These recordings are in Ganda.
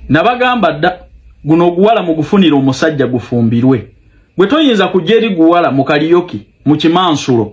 nabagamba dda guno oguwala mugufunira omusajja gufumbirwe gwe toyinza kujja eri guwala mu kaliyoki mu kimansulo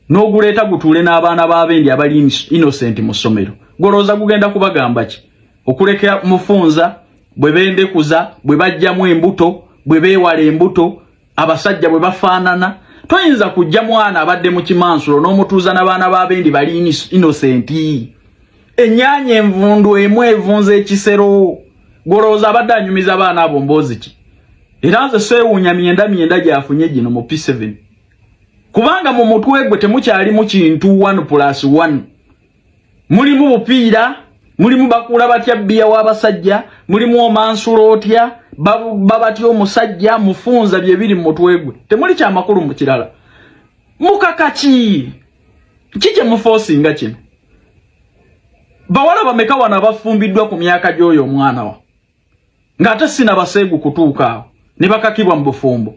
n'oguleeta gutuule n'abaana b'abendi abali innocent mu ssomero golowooza gugenda kubagamba ki okuleka mufunza bwe bendekuza bwe bajjamu embuto bwe beewala embuto abasajja bwe bafaanana toyinza kujja mwana abadde mu kimansulo n'omutuuza na baana ba bendi bali inosenti ennyanya envundu emu evunza ekisero gwolowooza abadde anyumiza baana abo mboozi ki era nze seewuunya myenda myenda gyafunye gino mu p7 kubanga mu mutwe gwe temukyalimu kintu 1 plus 1 mulimu bupiira mulimu bakuula batya bbiya w'abasajja mulimu omansula otya baba batya omusajja mufunza bye biri mu mutwe gwe temuli kyamakulu mu kirala mukaka ki ki kye mufoosinga kino bawala bameka wano abafumbiddwa ku myaka gy'oyo omwana wa ng'ate sina baseegu kutuuka awo ne bakakibwa mu bufumbo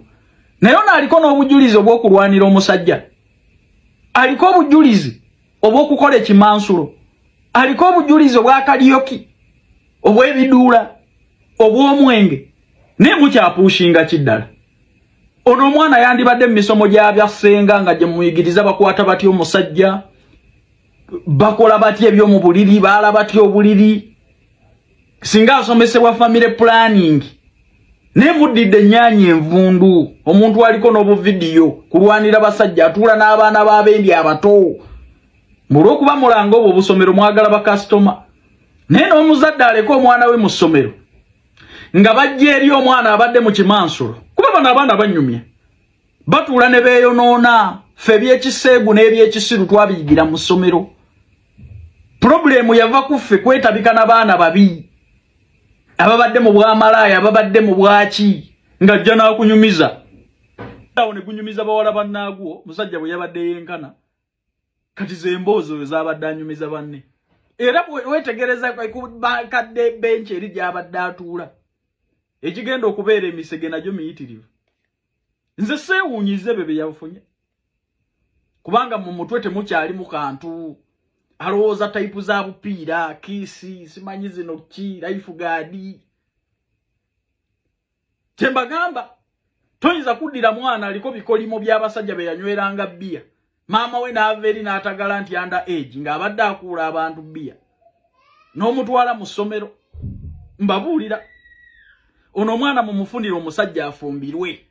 naye ono aliko n'obujulizi obw'okulwanira omusajja aliko obujulizi obw'okukola ekimansulo aliko obujulizi obw'akaliyoki obw'ebiduula obw'omwenge naye mukyapuushinga ki ddala ono omwana yandibadde mu misomo gya bya ssenga nga gye muyigiriza bakwata batya omusajja bakola batya ebyomu buliri baala batya obuliri singa asomesebwa family planning naye muddidde ennyanya envundu omuntu aliko n'obuvidiyo kulwanira basajja atuula n'abaana b'abendi abato mulwokuba mulanga obwo obusomero mwagala bakasitoma naye n'omuzadde aleka omwana we mu ssomero nga bajja eri omwana abadde mu kimansulo kuba bano abaana banyumya batuula ne beeyonoona fe ebyekiseegu n'ebyekisiru twabiyigira mu ssomero purobulemu yava ku ffe kwetabika na baana babi ababadde mu bwamalaaya ababadde mu bwaki ng'ajja n'akunyumiza awo ne gunyumiza bawala bannaagwo musajja bwe yabadde yenkana kati zemboozi oyo zabadde anyumiza banne era wetegereza kubakadde benki eri gyabadde atuula ekigenda okubeera emisege nagyo miyitirivu nze seewunyize ebyo byeyafunye kubanga mu mutwe temukyalimu kantu alowooza tayipu za bupiira kiisi simanyi zino ki laifu gaadi kyembagamba toyinza kuddira mwana aliko bikolimo by'abasajja be yanyweranga bbiya maama we n'ava eri n'atagala nti anda age ng'abadde akuula abantu bbiya n'omutwala mu ssomero mbabuulira ono omwana mumufunire omusajja afumbirwe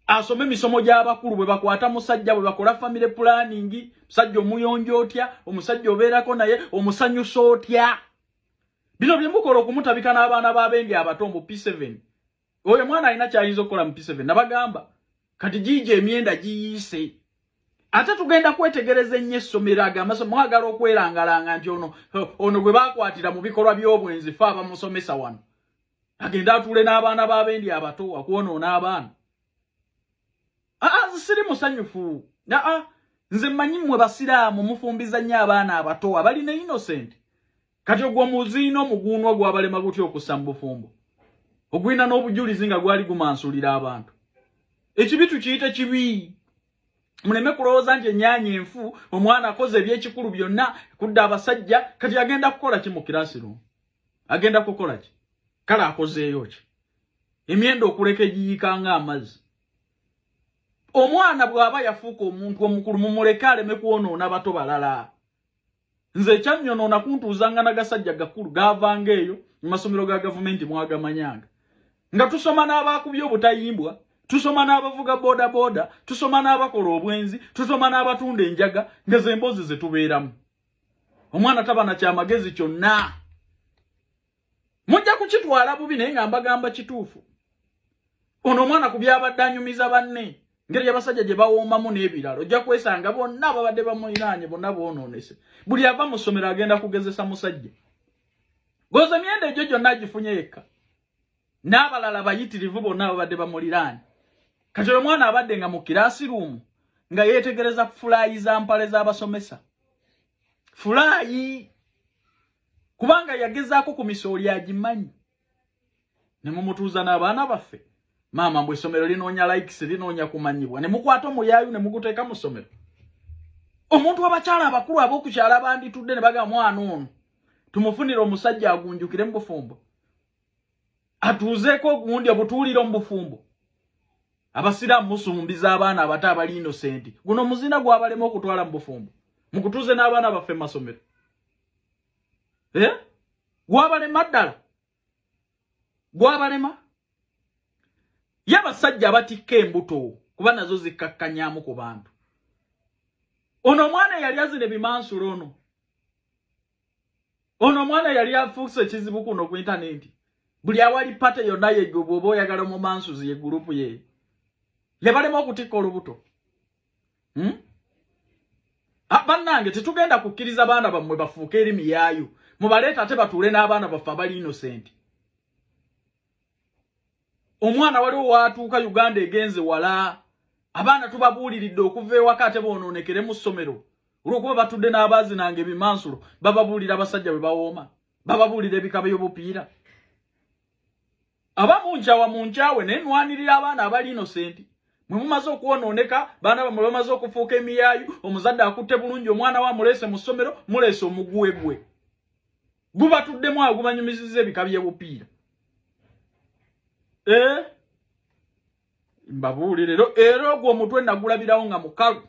asome emisomo gy'abakulu bwe bakwata musajja bwe bakola famire pulaningi musajja omuyonja otya omusajja obeerako naye omusanyusa otya bino byemukola okumutabika n'abaana b'abendi abato mbu p7 oyo mwana alina kyayinza okukola mu p7 nabagamba kati giija emyenda giyiise ate tugenda kwetegereza ennyo essomero ago amaso mwagala okwerangalanga nti ono ono gwe bakwatira mu bikolwa by'obwenzi fe abamusomesa wano agenda atuule n'abaana b'abendi abato akwonoona abaana aa siri musanyufu aa nze mmanyi mmwe basiraamu mufumbiza nnyo abaana abato abalina innosenti kati ogwo muziina omuguunwa gwabalema gutya okussa mu bufumbo ogwina n'obujulizi nga gwali gumansulira abantu ekibi tukiyite kibi muleme kulowooza nti enyaanya enfu omwana akoze ebyekikulu byonna kudda abasajja kati agenda kukola ki mu kirasi lumu agenda kukola ki kale akozeeyo ki emyenda okuleka egiyiika nga amazzi omwana bw'aba yafuuka omuntu omukulu mumuleke aleme kwonoona bato balala nze ekyannyonoona kuntuuzanga nagasajja gakulu gaavanga eyo mu masomero ga gavumenti mwagamanyanga nga tusoma n'abaakubye obutayimbwa tusoma n'abavuga bodaboda tusoma n'abakola obwenzi tusoma n'abatunda enjaga nga ze mboozi ze tubeeramu omwana taba na kyamagezi kyonna mujja kukitwala bubi naye nga mbagamba kituufu ono omwana ku byabadde anyumiza banne ngeri yabasajja gye bawoomamu n'ebirala ojja kwesanga bonna ababadde bamulinaanye bonna boonoonese buli ava mu ssomero agenda kugezesa musajja goza emyenda egyo gyonna agifunye yekka n'abalala bayitirivu bonna ababadde bamuliraanye kati oyo omwana abadde nga mu kiraasi ruumu nga yeetegereza fulaayi za mpale z'abasomesa fulaayi kubanga yagezaako ku misooli agimanyi ne mumutuuza n'abaana baffe maama mbu essomero linoonya likes linoonya kumanyibwa ne mukwata omuyaayu ne muguteeka mu ssomero omuntu abakyala abakulu ab'okukyala banditudde ne baga mwana ono tumufunire omusajja agunjukire mu bufumbo atuuzeeko ogundi obutuulire mu bufumbo abasiraamu musumbiza abaana abato abali inosenti guno muzina gwabalema okutwala mu bufumbo mukutuuze n'abaana baffe mu masomero eh? gwabalema ddala gwabalema ye abasajja abatikka embuto kuba nazo zikkakkanyamu ku bantu ono omwana yali azina ebimansula ono ono omwana yali afuuse ekizibu kuno ku intanenti buli awali pate yonna yegwe bwoba oyagala omumansuzi ye gurupu ye yabalema okutikka olubuto hmm? Ah, bannange tetugenda kukkiriza baana bammwe bafuuke eri miyaayu mubaleeta ate batuule n'abaana baffe abali innocent omwana waliwo waatuuka uganda egenze wala abaana tubabuuliridde okuva ewaka ate boonoonekere mu ssomero olwokuba batudde n'abaazi nange ebimansulo bababuulira abasajja bwe bawooma bababuulira ebikaba y'obupiira aba munjawa munjawe naye nwanirira abaana abali innocent mwe mumaze okwonooneka baana bamwe bamaze okufuuka emiyaayu omuzadde akutte bulungi omwana wa muleese mu ssomero muleese omuguwe gwe gubatuddemu awo gubanyumiziza ebika by'ebupiira eh? mbabuulire era ogwo omutwe nagulabirawo nga mukalu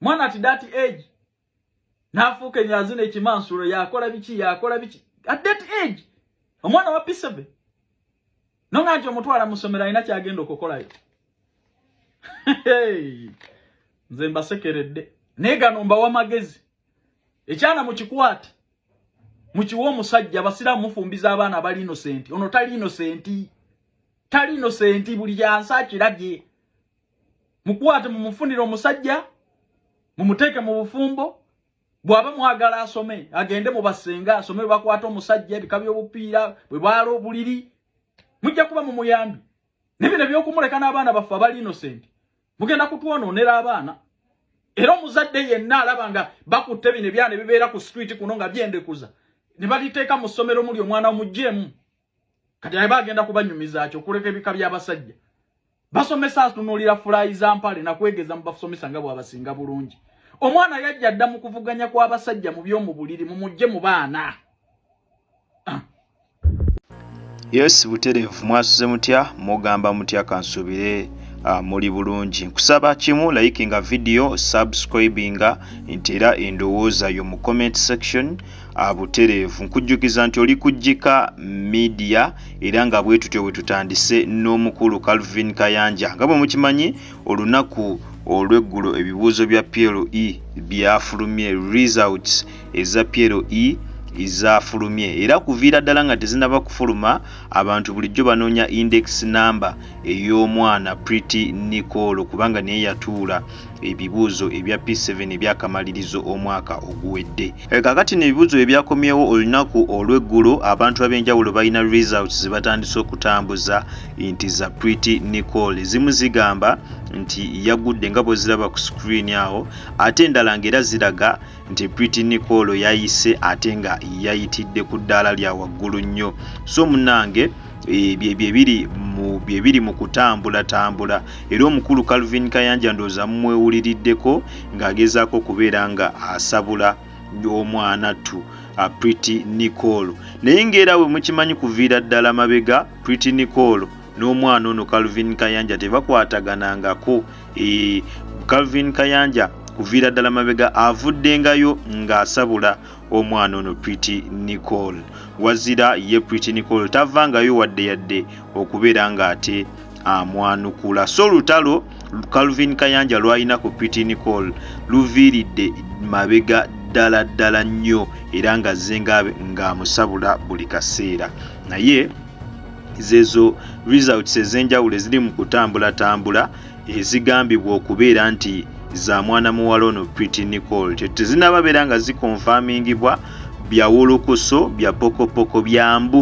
mwana ati dati egi n'afuuka enyazi n'ekimansulo yakola biki yakola biki at that age omwana wa pisebe no nga nti omutwala mu ssomero alina kyagenda okukolayo nze mbasekeredde naye gano mbawa magezi ekyana mukikwate mukiwa omusajja abasiraamu mufumbiza abaana abali inosenti ono tali inosenti tali inosenti buli yansi akirabye mukwate mumufunire omusajja mumuteeke mu bufumbo bwaba mwagala asome agende mu basenga asome bakwata omusajja ebika by'obupiira bwe baala obuliri mujja kuba mu muyambi nebino ebyokumuleka n'abaana baffe abali innocent mugenda kutwonoonera abaana era omuzadde yenna alaba nga bakutte bino ebyana ebibeera ku street kuno nga byendekuza ne baliteeka mu ssomero muli omwana omuggyemu kati aba agenda kubanyumiza kyo kuleka ebika by'abasajja basomesa atunuulira fulayi za mpale na kwegeza mu basomesa nga bw'abasinga bulungi omwana yajja dda mu kuvuganya kw'abasajja mu by'omu buliri mu mujje mu baana ah. yes butereevu mwasuze mutya mugamba mutya kansuubire Ah, muli bulungi nkusaba kimu likinga video subscribinga nti era endowooza yo mu comment section Ah, butereevu nkujjukiza nti oli ku jjika media era nga bwe tutyo bwe tutandise n'omukulu calvin kayanja nga bwe mukimanyi olunaku olw'eggulo ebibuuzo bya plo e byafulumye results eza plo e zaafulumye era kuviira ddala nga tezinaba kufuluma abantu bulijjo banoonya index number ey'omwana pretty nicolo kubanga naye yatuula ebibuuzo ebya P7 ebyakamalirizo omwaka oguwedde. Eh, kakati no ebibuuzo ebyakomyewo olunaku olw'eggulo, abantu ab'enjawulo balina results zebatandise okutambuza nti za Pretty Nicole. Ezimu zigamba nti yagudde nga bweziraba ku screen awo, ate endala ng'era ziraga nti Pretty Nicole yayise ate nga yayitidde ku ddaala lya waggulu nnyo so munange eh, byebiri bye biri mu kutambulatambula era omukulu calvin kayanja ndooza mumwewuliriddeko ng'agezaako okubeera nga asabula omwana ttu uh, pretty nicole naye ngaera we mukimanyi kuviira ddala mabega pretty nicole n'omwana ono calvin kayanja tebakwataganangako E, Calvin Kayanja kuviira ddala mabega avuddengayo ng'asabula omwana ono Pretty Nicole. Wazira ye Pretty Nicole tavangayo wadde yadde okubeera ng'ate amwanukula. So lutalo Calvin Kayanja lwalina ku Pretty Nicole luviiridde mabega ddala ddala nnyo era nga zzenga ng'amusabula buli kaseera naye zezo results ezenjawulo eziri mu kutambulatambula ezigambibwa okubeera nti za mwana muwala ono Pretty Nicole tezinaba beera nga zikonfamingibwa byawulukuso bya pokopoko bya mbu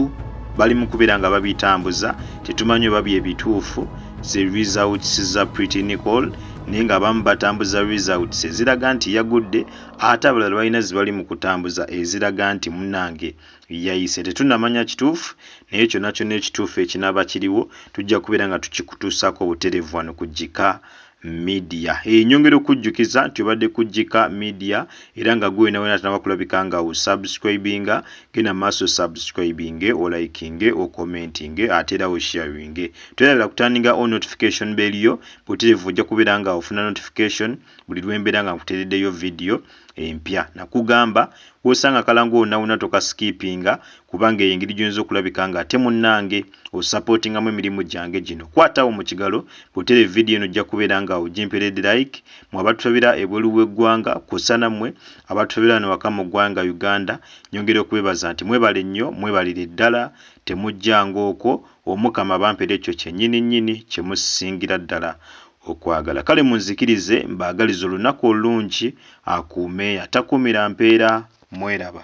bali mu kubeera nga babitambuza tetumanyi oba bye bituufu ze results za Pretty Nicole naye nga abamu batambuza results eziraga nti yagudde ate abalala balina zibali mu kutambuza eziraga nti munange yayise tetunamanya kituufu naye kyona kyona ekituufu ekinaba kiriwo tujja kubeera nga tukikutuusaako buterevu wano ku Gika Media. Hey, nyongera okujjukiza nti obadde ku Gika Media era nga gwe wena wena atanaba kulabika nga u subscribinga genda maaso subscribinge olikinge okomentinge ate era osharinge twerabira kutandinga o notification bell yo buterevu ojja kubeera nga ofuna notification buli lwembeera nga nkutereddeyo video empya nakugamba wosanga kalango onawuna toka skippinga kubanga eyo engeri gyoyinza okulabika nga ate munange osapotingamu emirimu gyange gino kwatawo mu kigalo bwotera vidiyo eno ojja kubeera nga ogimperede like mwe abatufabira ebweru w'eggwanga kwossa nammwe abatufabira wano waka mu ggwanga uganda nyongera okubebaza nti mwebale nnyo mwebalire ddala temujjanga okwo omukama bampere ekyo kyenyini nyini kyemusingira ddala Okwagala. Kale munzikirize mbaagalize olunaku olulungi, akuume atakuumira mpeera, mweraba.